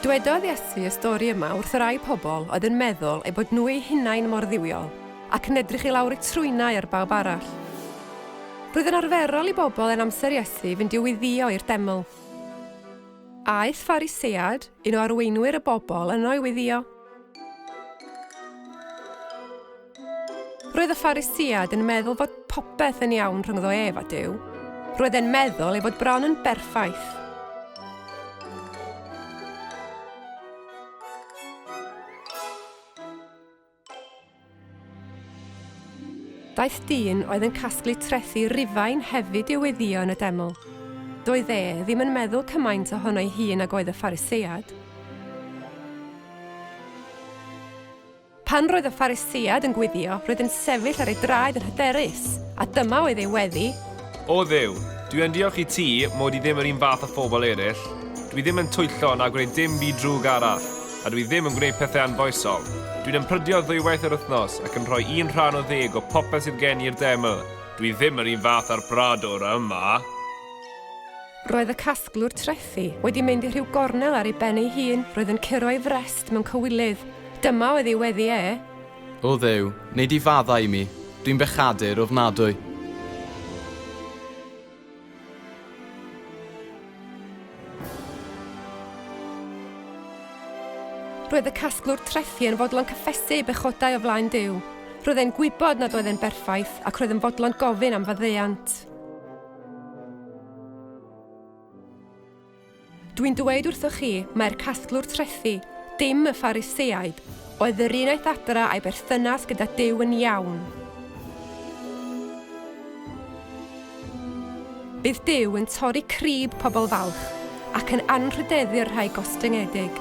Dwedodd Iesu y stori yma wrth y rai pobl oedd yn meddwl eu bod nhw eu hunain mor dduwiol ac yn edrych i lawr eu trwynau ar bawb arall. Roedd yn arferol i bobl yn amser Iesu fynd i'w wyddio i'r deml. Aeth Pharisead, un o arweinwyr y bobl, yno i wyddio. Roedd y Pharisïaid yn meddwl fod popeth yn iawn rhyngddo ef a Duw. Roedd e'n meddwl ei bod bron yn berffaith. Daeth dyn oedd yn casglu trethi Rufain hefyd i'w weddio yn y deml. Doedd e ddim yn meddwl cymaint ohono'i hun ag oedd y Pharisïaid. Pan roedd y Pharisïaid yn gwiddio, roedd yn sefyll ar ei draed yn hyderus, a dyma oedd ei weddi. O Dduw, dwi yn diolch i ti mod i ddim yr un fath â phobl eraill. Dwi ddim yn twyllo na gwneud dim byd drwg arall, a dwi ddim yn gwneud pethau anfoesol. Dwi'n ymprydio ddwywaith yr wythnos ac yn rhoi un rhan o ddeg o popeth sydd gen i i'r deml. Dwi ddim yr un fath â'r bradwr yma. Roedd y casglwr trethi wedi mynd i rhyw gornel ar ei ben ei hun, roedd yn curo ei frest mewn cywilydd. Dyma oedd ei weddi e. O Dduw, wnei di faddau i mi, dwi'n bechadur ofnadwy. Roedd y casglwr trethi yn fodlon cyffesu ei bechodau o flaen Duw. Roedd e'n gwybod nad oedd e'n berffaith ac roedd yn fodlon gofyn am faddeuant. Dwi'n dweud wrthoch chi, mae'r casglwr trethi, dim y Phariseaid, oedd yr un aeth adra a'i berthynas gyda Duw yn iawn. Bydd Duw yn torri crib pobl falch ac yn anrhydeddu'r rhai gostyngedig.